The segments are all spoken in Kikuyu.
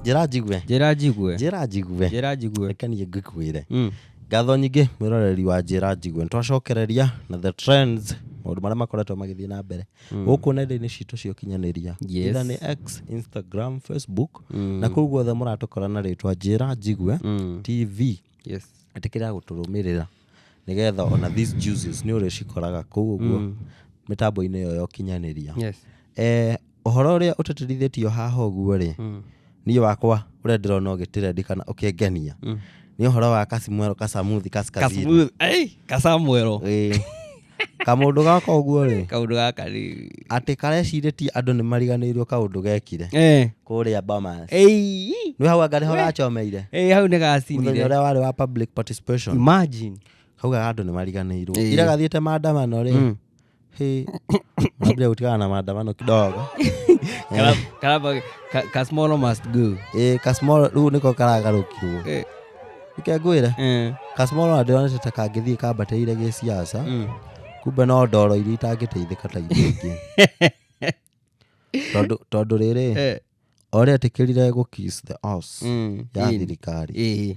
njĩra njigue njĩra njigue njĩra njigue njĩra njigue reke niĩ ngĩkwĩre Mm. ngatho nyingĩ mwĩroreri wa njĩra njigue nĩ twacokereria na the trends maũndũ marĩa makoretwo magĩthiĩ na mbere gũkũ nenda-inĩ citũ cia ũkinyanĩria Yes. Either nĩ x instagram facebook na kũu guothe mũratũkora na rĩtwa njĩra njigue tv yes ĩtĩkĩra gũtũrũmĩrĩra nĩgetha ona these juices nĩ ũrĩcikoraga kũu ũguo Mm. mĩtambo-inĩ ĩyo ya ũkinyanĩria yes Eh, ũhoro ũrĩa ũtatĩrithĩtio haha ũguo rĩ Mm. niĩ wakwa ũrĩa ndĩrona ũgĩtĩrendi kana ũkĩngenia Mm. nĩ ũhoro wa kasimwero kasamuthi kaskazini Kasmooth- ei, kasamwero Ĩĩ. kamũndũ gaka ũguo rĩ kaundu gaka rĩ atĩ karecirĩtie andũ nĩ mariganĩirwo kaũndũ gekire Eh, kũrĩa bomas ei, nĩ hau anga nĩho gacomeire ei, hau nĩ mũthenya gacinire ũrĩa warĩ wa public participation imagine kaugaga andũ nĩ mariganĩirwo Ĩĩ. ira gathiĩte maandamano rĩ Mm. hĩ mambire gũtigana na maandamano kidogo Kara- karaba- ka- ka small must go Ĩĩ, ka small- rĩu nĩko karagarũkirwo Eh, reke ngwĩre Eh, customer ũrona ndĩronete ta kangĩthiĩ kambatĩire gĩ siasa mm. kumbe no ndoro iria itangĩteithĩka ta iria ingĩ Tondũ- tondũ rĩrĩ Eh, orĩa etĩkĩrire gũ kiss the ass mm, ya in. thirikari Eh,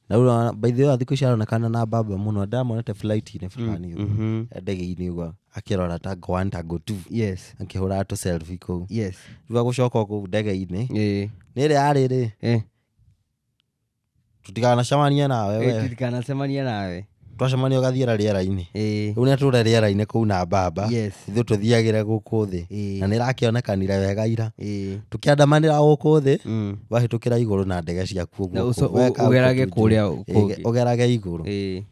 na rĩu by the way thikũ ici aronekana na mbamba mũno ndamonete flight-inĩ fulani ũguo, mhm. ya ndege-inĩ ũguo akĩrora tango one tango two yes akĩhũraga tũ selfie kũu yes thutha gũcoka kũu ndege-inĩ Eh, nĩ ĩrĩa yarĩ-rĩ eh, tũtikanacemanie nawe Ĩ, we tutikanacemanie nawe twacemania ũgathiĩra rĩera-inĩ Ĩ, rĩu nĩatũre rĩera-inĩ kũu na mbamba Yes. ithuĩ tũthiagĩre gũkũ thĩ Ĩ. na nĩrakĩonekanire wega ira ĩ, tũkĩandamanĩra gũkũ thĩ mm, wahĩtũkĩra igũrũ na ndege ciaku Na ũguo ũco- kũu, weka ũgerage ũguo kũrĩa kũngĩ. Ĩ, ũgerage igũrũ ĩ.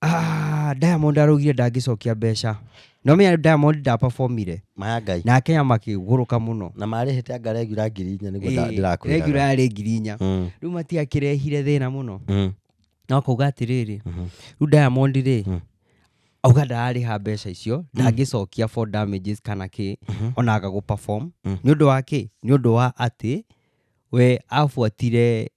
Ah, diamond araugire ndangĩcokia mbeca no menya diamond ndaperformire maya ngai na akenya makĩgũrũka mũno na marĩhĩte anga regura ngiri inya nĩguo nda- ndĩrakwĩraga. regura yarĩ ngiri inya Mm, rĩu matiakĩrehire thĩna mũno mm, no akauga atĩrĩrĩ mhm. rĩu diamond rĩ Mm. auga ndararĩha mbeca icio ndangĩcokia for damages kana kĩ Mhm. ona aga gũperform Mm. nĩ ũndũ wa kĩ nĩ ũndũ wa atĩ we abuatire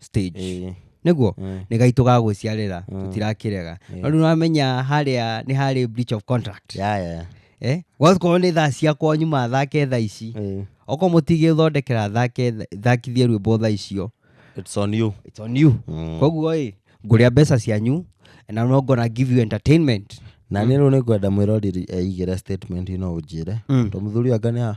stage Ĩĩ, nĩguo ĩĩ, nĩ gaitũ ga gwĩciarĩra Mm. tũtirakĩrega Yes. no rĩu wamenya harĩa nĩ harĩ breach of contract ya, ya, ya. eh? gwakorwo nĩ thaa cia kwanyu mathake thaa ici Ĩĩ, okorwo mũtigĩthondekera thake thakithie rwĩmbo thaa icio it's on you. it's on you Mm. koguo ĩ ngũrĩa mbeca cianyu na no ngona give you entertainment na nä rä u nä ngwenda mwä roriri eigä re statement ino å njä re Mm. to må thuri anga nä ha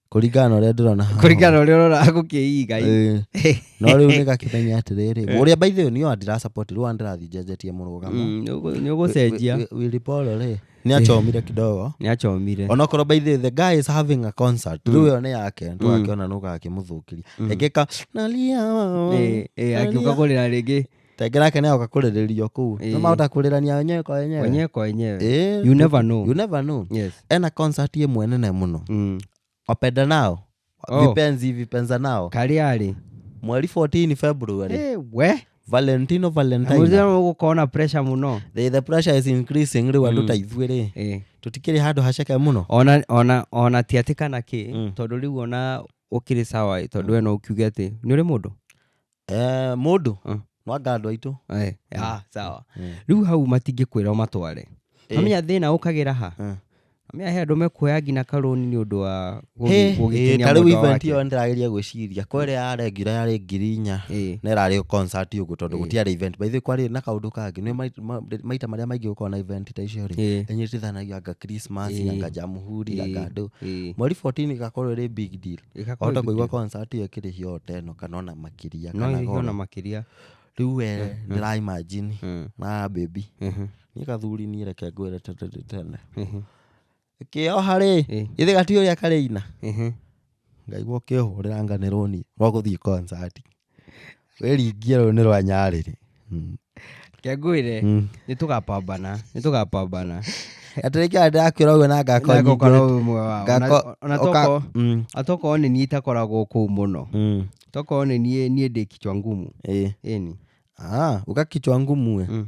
kũringana na ũrĩa ndĩrona haha. kũringana na ũrĩa ũrona gũkĩiga ĩ. Ĩĩ. no rĩu nĩ gakĩmenya atĩrĩrĩ ũrĩa by the way nĩyo ndĩrasapoti rĩu ndĩrathiĩ njenjetie mũrũgamo Mm, nĩũgũ- nĩũgũcenjia Wi- Wi- Willy Paul rĩ nĩ acomire kidogo nĩ acomire onokorwo by the way, the guy is having a concert rĩu ĩyo nĩ yake ndũgakĩona nũgakĩmũthũkĩria ekĩka nalia Ĩ, ĩ, akiuga kũrĩra rĩngĩ tenge nake nĩaoka kũrĩrĩrio kũu Ĩĩ. nĩ mahota kũrĩrania wenyewe kwa wenyewe wenyewe kwa wenyewe Ĩĩ, you never know you never know yes ena concert ĩmwe nene mũno mm. wapenda nao Oh. vipenzi vipenza nao kariarĩ mweri 14 february Eh, we valentino Na valentine mũthenya ũyũ gũkona pressure mũno the, the pressure is increasing rĩu andũ ta ithuĩ rĩ Eh. tũtikĩrĩ handũ haceke mũno ona ona ona ti atĩ kana kĩ Mm. tondũ rĩu ona ũkĩrĩ sawa ĩ, tondũ we no ũkiuge atĩ nĩ ũrĩ mũndũ Eh, mũndũ Ah. no anga andũ aitũ Eh, ah, sawa Mm. rĩu hau matingĩkwĩra ũmatware Eh. amenya thĩna ũkagĩra ha Eh. amenya he andũ mekuoya nginya karũni nĩ ũndũ wa Hey, gũgĩkenia ta rĩu mwendwa event wake. ĩyo ndĩrageria gwĩciria kwa ĩrĩa ya regular yarĩ ngiri inya Eh. na ĩrarĩ concert ũguo tondũ gũtiarĩ event by the way kwarĩ na kaũndũ kangĩ nĩ mai- ma- maita marĩa maingĩ gũkorwo na event ta icio rĩ Eh. ĩnyitithanagia anga christmas Eh. anga jamhuri anga Eh. andũ Eh. mweri 14 ĩgakorwo ĩrĩ big deal wahota kũigua concert ĩyo ĩkĩrĩhio o ta ĩno kana ona makĩria no kana ĩrĩhio ona goro makĩria rĩu we ndĩra imagine Mm. na baby Mhm. niĩ gathuri niĩ reke ngwĩre tene tene Mhm. kĩoha rĩ Eh. githĩ gati ũrĩa karĩ ina Mhm. ngaigua ũkĩhũrĩra nganĩrwo niĩ wa gũthiĩ concert Wĩringia rũĩ nĩ rwa nyarĩrĩ. Kengwĩre, Mm. nĩ tũgapambana, nĩ tũgapambana. Atĩ nĩkĩo andũ ndakwĩra ũguo na ngako Na ngoko no nyingĩ. ũmwe wao. Ngako- Na- ona ũka- tokorwo- Mm, atokorwo nĩ niĩ itakoragwo kũu mũno mm, tokorwo nĩ niĩ niĩ ndĩ kichwa ngumu ĩĩ. ĩni Ah, ukakichwa ngumu we. Mm.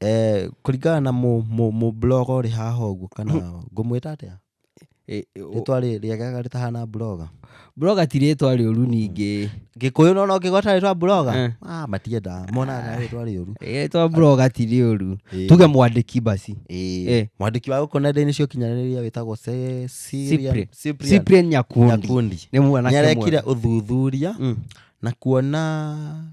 Eh, kũringana na mũ- mũ- mũbloga ũrĩ haha ũguo kana ngũmwĩta atĩa Eh, eh, o- rĩtwa rĩ- rĩagega rĩtahana bloga broga ti rĩtwa rĩũru ningĩ gĩkũyũ nona ũngĩgweta rĩtwa bloga Eh. ah, matiendaa monaga rĩtwa rĩũru rĩtwa broga ti rĩũru Eh. tuge mwandĩki basi Eh. Eh. mwandĩki wa gũkũ nenda-inĩ cia ũkinyanĩrĩria wĩtagwo Se- Cyprian- Cyprian- Cyprian cyprian nyakundi Nyakundi. nĩ mwanake nĩarekire mwega. ũthuthuria Mm. na kuona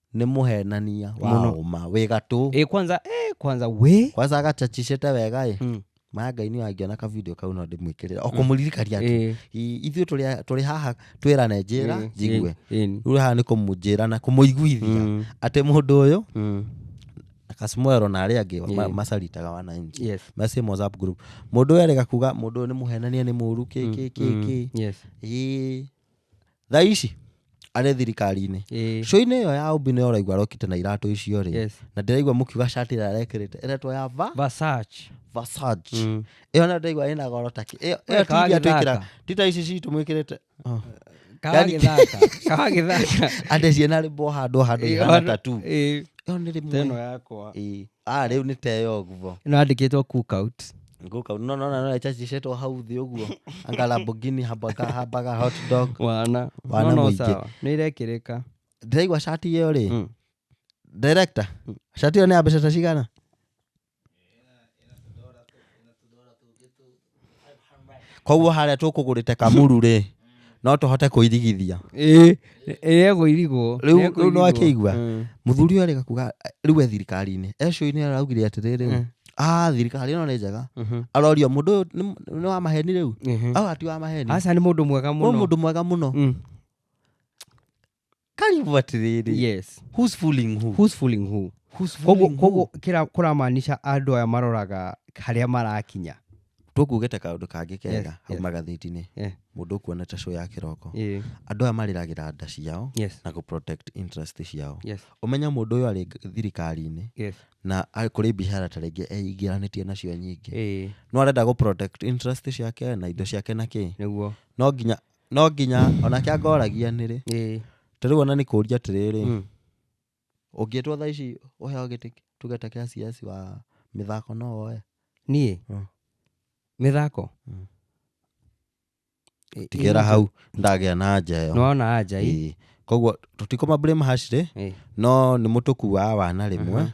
nĩ mũhenania wa Mũno. ũma wĩ gatũ ĩ kwanza ĩ kwanza wĩ kwanza agachachicĩte wega ĩ Mm. maya ngai nĩ angĩona ka video kau no ndĩmwĩkĩrĩra okũmũririkania tu Ĩ, I- ithuĩ tũrĩ a- tũrĩ haha twĩrane njĩra ĩ, njigue ĩ, ĩ. rĩu haha nĩ kũmũnjĩra na kũmũiguithia Mm, atĩ mũndũ ũyũ mm. kasmuero na arĩa angĩ ma- Yeah. macaritaga wananchi Yes. message WhatsApp group mundu erega kuga mundu uyu ni muhenania ni muru ki ki ki ki Yes. Ii, thaa ici arĩ thirikari-inĩ Ĩĩ. show-inĩ ĩyo ya ũmbi nĩ ũraigua arokĩte na iratũ icio rĩ Yes. na ndĩraigua mũkiuga shati ĩrĩa arekĩrĩte ĩretwo ya va Versace. Versace Mm. ĩyo na ndĩraigua ĩna goro ta kĩ ĩyo We, ĩyo ti iria twĩkĩra kawagĩthaka. ti ta ici citũ mwĩkĩrĩte Kawagĩthaka. Kawagĩthaka. andĩ ciĩna rĩmbo handũ handũ Ĩĩ, ihana handũ- tatu ĩĩ. ĩyo nĩ Teno rĩmwe yakwa. Ĩĩ. Ah, rĩu nĩ teyo ũguo ĩno yandĩkĩtwo cook out Ngũka, no no no no chachichetwo hau thĩ ũguo anga Lamborghini hambaga hambaga hot dog wana Wana no no mũingĩ. sawa nĩ irekĩrĩka ndĩraigua shati ĩyo rĩ Mm. director shati ĩyo nĩ ya mbeca ta cigana koguo harĩa tũkũgũrĩte kamuru rĩ no tũhote kũirigithia ĩĩ ĩĩ egũirigwo Rĩu- rĩu nĩ wakĩigua? Mm. mũthuri ũyũ arĩga kuga rĩu e thirikari-inĩ ecoinĩ araugire atĩrĩrĩ Mm. a thirikari ĩno nĩ njega Mhm. arorio mũndũ ũyũ nĩ- nĩ wa maheni rĩu Mhm. au ati wa maheni aca nĩ mũndũ mwega Ũyũ mũno mũndũ mwega mũno Mm. karibu atiriri yes who's fooling who who's fooling who who's koguo fooling koguo who kĩra- kũramaanisha andũ aya maroraga harĩa marakinya tũkuge ta kaũndũ kangĩ Yes, kega yes. hau magathĩti-inĩ Eh, mũndũ ũkuona ta show ya kĩroko eh, andũ aya marĩragĩra nda ciao yes na gũprotect interest ciao yes ũmenye mũndũ ũyũ arĩ ng- thirikari-inĩ yes na a- kũrĩ bicara ta rĩngĩ eingĩranĩtie nacio nyingĩ eh no arenda gũprotect interest ciake na indo ciake na kĩ nĩguo no nginya no nginya onake angoragia nĩ rĩ Ĩĩ. ta rĩu ona nĩ kũria atĩrĩrĩ Mm. ũngĩtwo thaa ici ũheo gĩtĩ tugete kĩa CS wa mĩthako no woe niĩ Mm. mĩthako Mm. Ĩ- tigĩra ĩ- hau ndagĩa na nja ĩyo nĩwona anja ĩ Ĩĩ. koguo tũtikũma blame hash rĩ Ĩĩ. no nĩ mũtũkuaa wana rĩmwe Aha.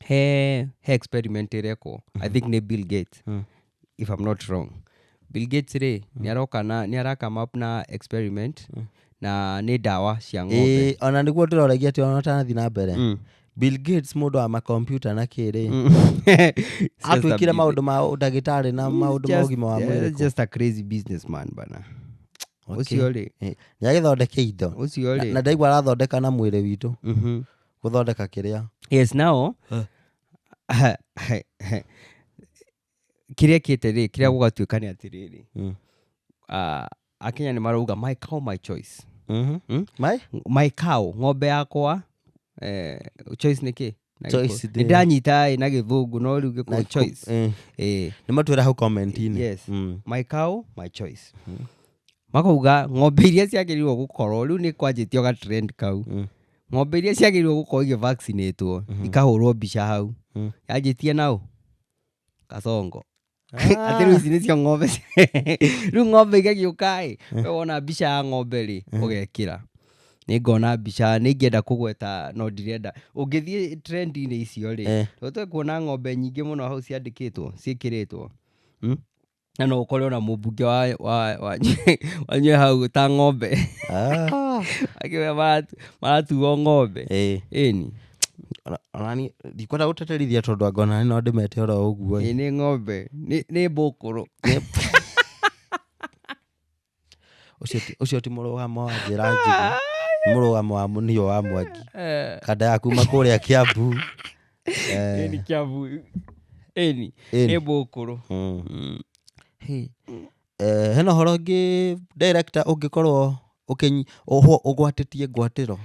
he he experiment ĩrekwo i think nĩ bill gates Mm. if i'm not wrong bill gates rĩ nĩ aroka na nĩ ara come up na experiment na nĩ ndawa cia ng'ombe Ĩĩ, ona nĩguo ndĩroragia atĩ ona ũtanathi na mbere Mm. bill gates mũndũ wa makompyuta na kĩrĩ atwĩkire maũndũ ma ndagĩtarĩ na maũndũ ma ũgima wa mwĩrĩ kũ. just a crazy businessman bana Okay. ũcio rĩ Ĩĩ, nĩagĩthondeke indo ũcio Na- rĩ na ndaigua arathondeka na mwĩrĩ witũ Mhm. gũthondeka kĩrĩa yes now Eh. kĩrĩa kĩte rĩ kĩrĩa gũgatuĩka nĩ atĩrĩrĩ Mm. ah, akenya nĩ marauga my cow my choice Mhm. Mm? Mai? my cow ng'ombe yakwa eh, choice nĩ kĩ Na Choice gĩkũ- ndĩ- nĩ ndanyita ĩ na gĩthũngũ no rĩu Na gĩkũ ku- choice eh, Eh, nĩ matwĩra hau comment-inĩ Yes. Mm. my cow my choice makauga ng'ombe iria ciagĩrĩirwo gũkorwo rĩu nĩ kwanjĩtio ga trend kau Mm. ng'ombe iria ciagĩrĩirwo gũkorwo igĩ vaccinate wo Mhm. ikahũrwo mbica hau Mm. yanjĩtie naũ kacongo atĩ rĩu ici nĩcio ng'ombe ci- rĩu ng'ombe igagĩũkaĩ we wona mbica ya ng'ombe rĩ ũgekĩra nĩ ngona mbica nĩ ingĩenda kũgweta no ndirenda ũngĩthiĩ trendi-inĩ icio rĩ Eh. tũtwe kuona ng'ombe nyingĩ mũno hau ciandĩkĩtwo ciĩkĩrĩtwo Mm? na no ũkore ona mũmbunge wa- wa- wanyu- wanyu e hau ta ng'ombe Ah, akĩoya maratu- maratuo ng'ombe ĩĩ. ĩni Ona- onani ndikwenda gũteterithia tondũ anga onani no ndĩmete oro ũguo ĩ nĩ ng'ombe nĩ nĩ mbũkũrũ Ũcio ti- ũcio ti mũrũgamo wa njĩra njigũ nĩ mũrũgamo wa mũnio wa mwangi Eh, kanda ya kuma kũrĩa kĩambu Eh, ĩni kĩambu ĩni ĩni. nĩ mbũkũrũ mm. Hey. Eh, hena ũhoro ũngĩ director ũngĩkorwo ũkĩnyi- ũhwo- ũgwatĩtie ngwatĩro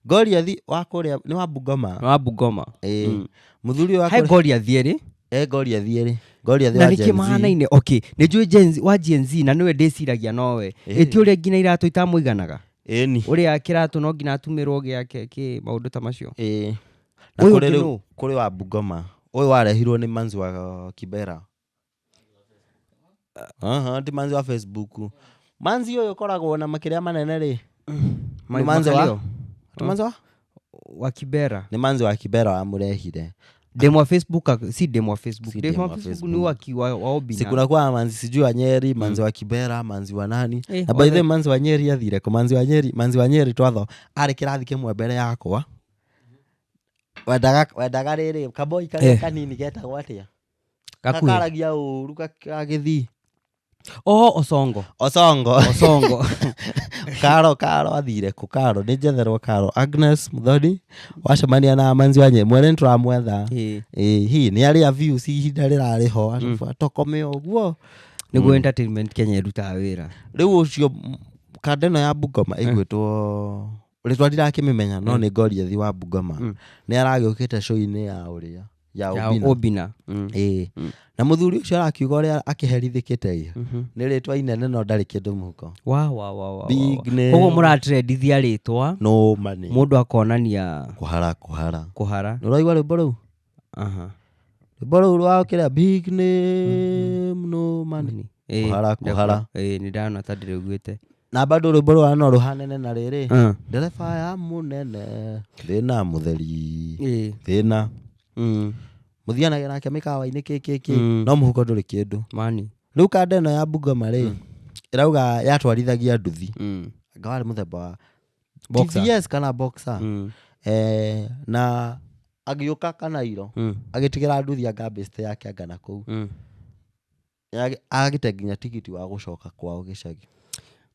Goliathi wa kũrĩa nĩ wa Bungoma wa Bungoma mm. mũthuri wa kũrĩa Goliathi erĩ e Goliathi erĩ Goliathi wa Gen Z na nĩkĩ mahanaine okay nĩ njũĩ Gen Z wa Gen Z na nĩwe ndĩciragia nowe ĩti ũrĩa nginya iratũ itamũiganaga ĩni ũrĩa kĩratũ no nginya atumĩrwo gĩake kĩ maũndũ ta macio ĩĩ na kũrĩ wa Bungoma ũyũ warehirwo nĩ Manzi wa Kibera Aha, ti manzi wa Facebook. Manzi ũyũ ũkoragwo na makĩrĩa manene rĩ, Nĩ manzi wa- Makalio? ti manzi wa? wa kibera Nĩ manzi wa Kibera wamũrehire. demu wa facebook ak- si demu wa facebook Si demu demu wa wa facebook ni Facebook. wa ki- wa- wa obina Sikunakuwa manzi sijui wa Nyeri, manzi wa Kibera, manzi wa nani. Eh, Na by the way, wothe. manzi wa Nyeri athire kũ? Manzi wa Nyeri, manzi wa Nyeri twatho arĩ kĩrathi kĩmwe mbere yakwa. Wendaga wendaga rĩrĩ, kaboi karĩa Eh. kanini getagwo atĩa? Gakuhĩ. gakaragia ũru gagĩthii o osongo osongo osongo karo karo athire kũ karo nĩ njetherwo karo agnes mũthoni wacemania na manzi wanye mwene nĩ tũramwetha Ĩĩ. Ĩĩ, hi nĩ arĩa views ihinda rĩrarĩ ho arabu atokome ũguo nĩguo entertainment kenya ĩrutaga wĩra rĩu ũcio m- kanda ĩno ya bungoma ĩgwĩtwo rĩtwa ndirakĩmĩmenya no nĩ ngoriathi wa bungoma nĩ aragĩũkĩte show-inĩ ya ũrĩa ya ya Obina. obina Mm. Ĩĩ. Mm. na mũthuri ũcio arakiuga ũrĩa akĩherithĩkĩte ĩ Mhm. nĩ rĩtwa inene no ndarĩ kĩndũ mũhuko Wa, wa, wa, wa, Big wa, wa. name. koguo mũratrendithia rĩtwa no mani mũndũ akonania kũhara kũhara kũhara nä ũraigua rwä mbo rä u Aha. rwä mbo rä u rwa kä rä a no money Money. Ĩĩ, Kũhara, ndefu. kũhara. Ĩĩ, nĩ ndana ta ndĩrĩguĩte na bado rwĩmbo rwa no rũhanene na rĩrĩ Ah, ndereba ya mũnene thĩna mũtheri ĩĩ, thĩna mm, mũthianagia nake mĩkawa-inĩ kĩkĩkĩ Mm. no mũhuko ndũrĩ kĩndũ mani rĩu kanda ĩno ya bungoma rĩ ĩrauga yatwarithagia nduthi Mm, anga warĩ mũthemba wa Boxer. TVS kana boxer mm, eh, na agĩũka kanairo mm, agĩtigĩra nduthi anga mbĩcite yake anga na kũu mm. Nĩage- agĩte nginya tigiti wa gũcoka kwao gĩcagi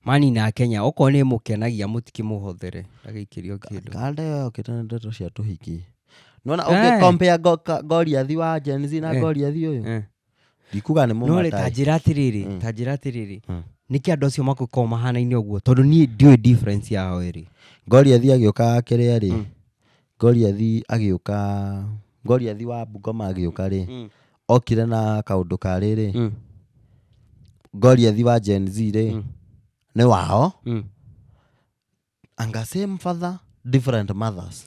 mani na kenya okorwo nĩ mũkenagia mũtikĩmũhothere agĩikĩrio kĩndũ kanda ĩyo yokĩte na ndeto cia tũhiki nona Eh. ũngĩ compare go- ka- goriathi wa Gen Z na Eh. goriathi ũyũ Eh. ndikuga nĩ no rĩ ta mũmatai njĩra atĩrĩrĩ Mm. ta njĩra atĩrĩrĩ Mm. nĩkĩ andũ acio makoragwo mahanaine ũguo tondũ niĩ ndiũĩ difference yao ĩrĩ goriathi agĩũka akĩrĩa rĩ Mm. Goliathi agĩũka Goliathi wa Bungoma agĩũka rĩ Mm. okire na kaũndũ ka rĩrĩ Mm. Goliathi wa Gen Z rĩ Mm. nĩ wao Mm. anga same father different mothers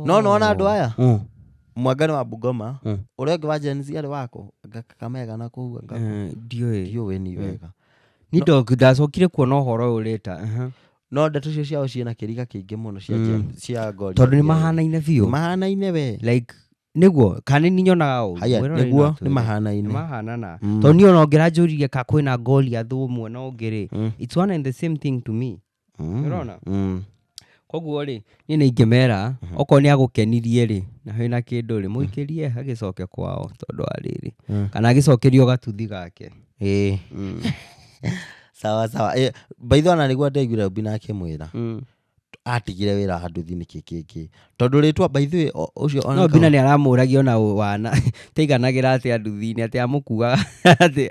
no nona andũ aya Mm. mwangani wa Bungoma Mm. ũrĩa ũngĩ wa Gen Z arĩ wako anga Kakamega na kũu anga Eh, ndiũĩ ndiũĩ ni wega ni ndo ndacokire kuona ũhoro ũyũ rĩta no ndeto icio ciao ciĩna kĩriga kĩingĩ mũno cia Mm. Gen- cia ngori tondũ nĩ mahanaine biũ mahanaine we like nĩguo kana nĩ nyonaga ũguo. haya Mwĩroreri no nĩguo atwĩre. nĩ mahanaine nĩmahanana Mm. tondũ niĩ ona ũngĩra njũririe ka kwĩna ngoli athũ ũmwe na ũngĩ rĩ Mm. it's one and the same thing to me Mm. Nĩũrona? Mm. koguo rĩ niĩ nĩ ingĩmera okorwo nĩ agũkenirie rĩ na wĩ na kĩndũ rĩ mũikĩrie agĩcoke kwao tondũ wa rĩrĩ Mm. kana agĩcokerio gatuthi gake Ĩĩ. Mm. sawa sawa Ĩĩ, by the way ona nĩguo ndaiguire ũmbi na akĩmwĩra Mm. atigire wĩra handũ thi nĩkĩ kĩngĩ tondũ rĩtwa by the way o- ũcio ona no nginya nĩ aramũragia ona ũ- wana taiganagĩra atĩ anduthi-inĩ atĩ amũkuaga atĩ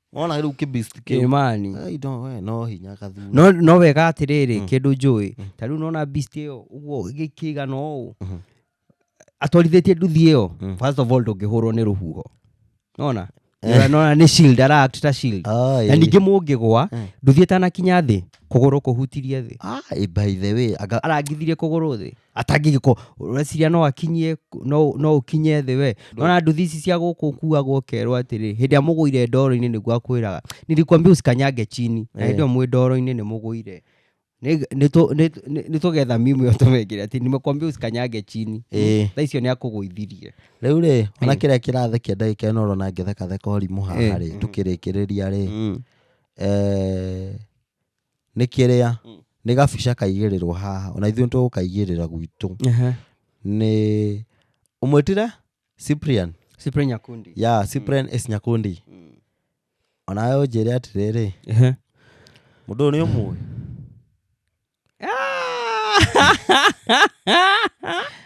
wona rä u kä beast kä u. imani Ai, no, we, no hinya gathuri no no wega atiriri kindu njui ta riu nona beast iyo uguo gikiigana uu atwarithitie nduthi iyo first of all ndungihurwo ni ruhuho nona Nona- nona ni shield ara act ta shield Ai. na ningĩ mũngĩgwa nduthi ĩtanakinya thĩ kũgũrũ kũhutirie thĩ Ah, eh, by the way anga arangithirie kũgũrũ thĩ atangĩgä korwo ũreciria no akinyie no, no ũkinye thĩ we nona nduthi ici cia gũkũ kuagwo ũkerwo atĩrĩ hĩndĩ ĩrĩa mũgũire ndoro-inĩ nĩguo akwĩraga nilikwambia usikanyange chini na hĩndĩ ĩyo mwĩ ndoro-inĩ nĩ mũgũire Nĩ- nĩ tũ- nĩ- nĩ- nĩ tũgetha mimu ĩyo tũmekĩre atĩ nimekwambia usikanyange chini Ĩĩ. tha icio nĩ akũgũithirie rä u rä ona kä rä a kä rathä kia ndagä ka ä no rona ngä thekatheka å rimå haha rä tå kä rä kä rä ria rä nĩ kĩrĩa Mm. nĩ gabica kaigĩrĩrwo haha ona ithuĩ tũgũkaigĩrĩra gwitũ Ehe. nĩ ũmwĩtire cyprian Cyprian Nyakundi. ya cyprian s nyakundi Mm. onawe ũnjĩre atĩrĩrĩ Ehe. mũndũ ũyũ nĩ ũmũĩ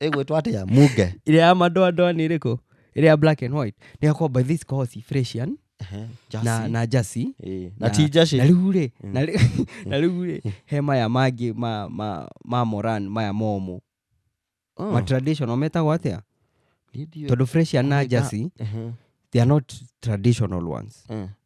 ĩgwĩtwo atĩa munge ĩrĩa ya madoadoa nĩ ĩrĩkũ ĩrĩa ya black and white nĩ yakwa by this course fresian Ehe, na, Jasi. na jasi Ĩĩ, na ti jaci na rĩu rĩ Mm. na rĩ- na rĩu rĩ he maya mangĩ ma, ma, ma moran maya momũ Oh, ma traditional metagwo atĩa ndiũĩ. tondå fresian na Kũmenya- jasi Ehe, they are not traditional ones eh.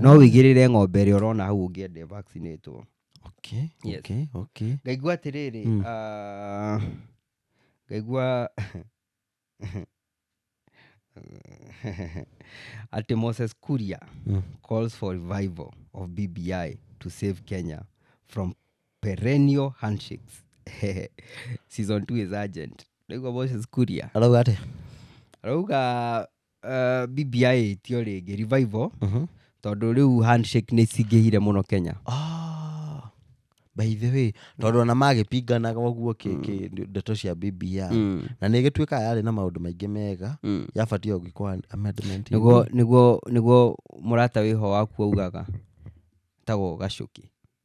no wĩigĩrĩre ng'ombe ĩrĩa ũrona hau ũngĩende vaccinatwo okay, Yes. okay, okay. ngaigua atĩrĩrĩ Mm. ah, ngaigua atĩ moses kuria Mm. calls for revival of bbi to save kenya from perennial handshakes season 2 is urgent ndaigua moses kuria arauga atĩ arauga Uh, BBI ĩtio rĩngĩ revival Mhm. tondũ rĩu handshake nĩ cingĩhire mũno Kenya. Ah, by the way tondũ ona magĩpinganaga ũguo kĩ- kĩ- ndeto cia bbi Mm. na nä ä gä tuä kaga yarä na maå ndå maingä mega Mm. yabatie å gä korwo amendment ĩyo. Nĩguo nĩguo nĩguo mũrata wĩho waku augaga tagwo gacuki.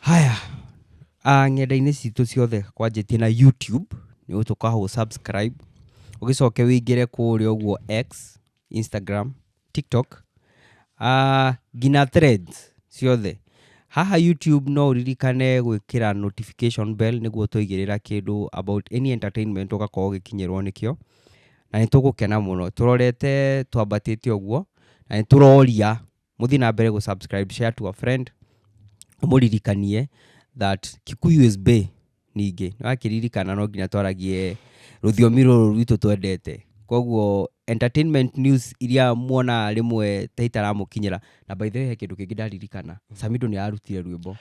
Haya, ah, ng'enda-inĩ citũ ciothe kwanjĩtie na YouTube nĩ ũtũka hũ subscribe ũgĩcoke wĩingĩre kũrĩa ũguo X, Instagram, TikTok ah, nginya threads ciothe haha YouTube no ũririkane gwĩkĩra notification bell nĩguo twaigĩrĩra kĩndũ about any entertainment ũgakorwo ũgĩkinyĩrwo nĩkĩo na nĩ tũgũkena mũno tũrorete twambatĩte ũguo na nĩ tũroria muthi na mbere gu subscribe share to a friend umuririkanie that kikuyu is bay ningĩ nĩwakiririkana no nginya twaragie rũthiomi rũrũ rwitũ twendete koguo entertainment news iria muona rĩmwe ta itaramukinyira na by the way he kindu kingi ndaririkana samido ni arutire rwimbo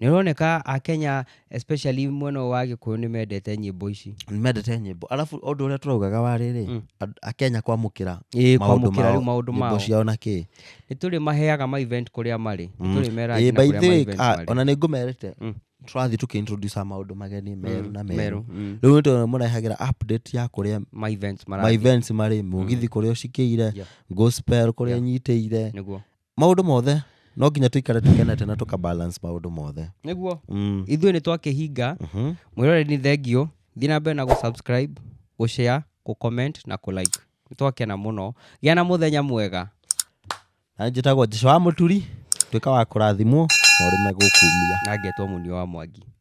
Nĩ ũroneka a Kenya especially mwena ũyũ wa Gĩkũyũ nĩ mendete nyĩmbo ici. mendete nyĩmbo arabu ũndũ ũrĩa tũraugaga warĩ rĩ Mm. and- akenya kwamũkĩra Ĩĩ, maũndũ kwamũkĩra rĩu mao, maũndũ nyĩmbo mao. ciao na kĩ Nĩ tũrĩ maheaga ma event kũrĩa marĩ. Nĩ Mm. tũrĩ mera Ĩĩ, nginya by kũrĩa the ma way, event ah, marĩ. ona nĩ ngũmerĩte Mm. tũrathiĩ tũkĩintroduce maũndũ mageni meru na meru mm. rĩu nĩtũ mũrehagĩra update ya kũrĩa ma events ma marathiĩ events marĩ mũgithi kũrĩa ũcikĩire Yeah. gospel kũrĩa Yeah. nyitĩire nĩguo maũndũ mothe no nginya tũikare tũkenete na tũka balance maũndũ mothe nĩguo mm. ithuĩ nĩ twakĩhinga Mhm. mwĩrore nĩ thengio thiĩ na mbere na gũsubscribe gũshare gũcomment na kũlike nĩ twakena mũno gĩa na mũthenya mwega na njĩtagwo jesu wa mũturi tuĩka wa kũrathimwo na ũrĩme gũkumia na ngetwo mũnio wa mwangi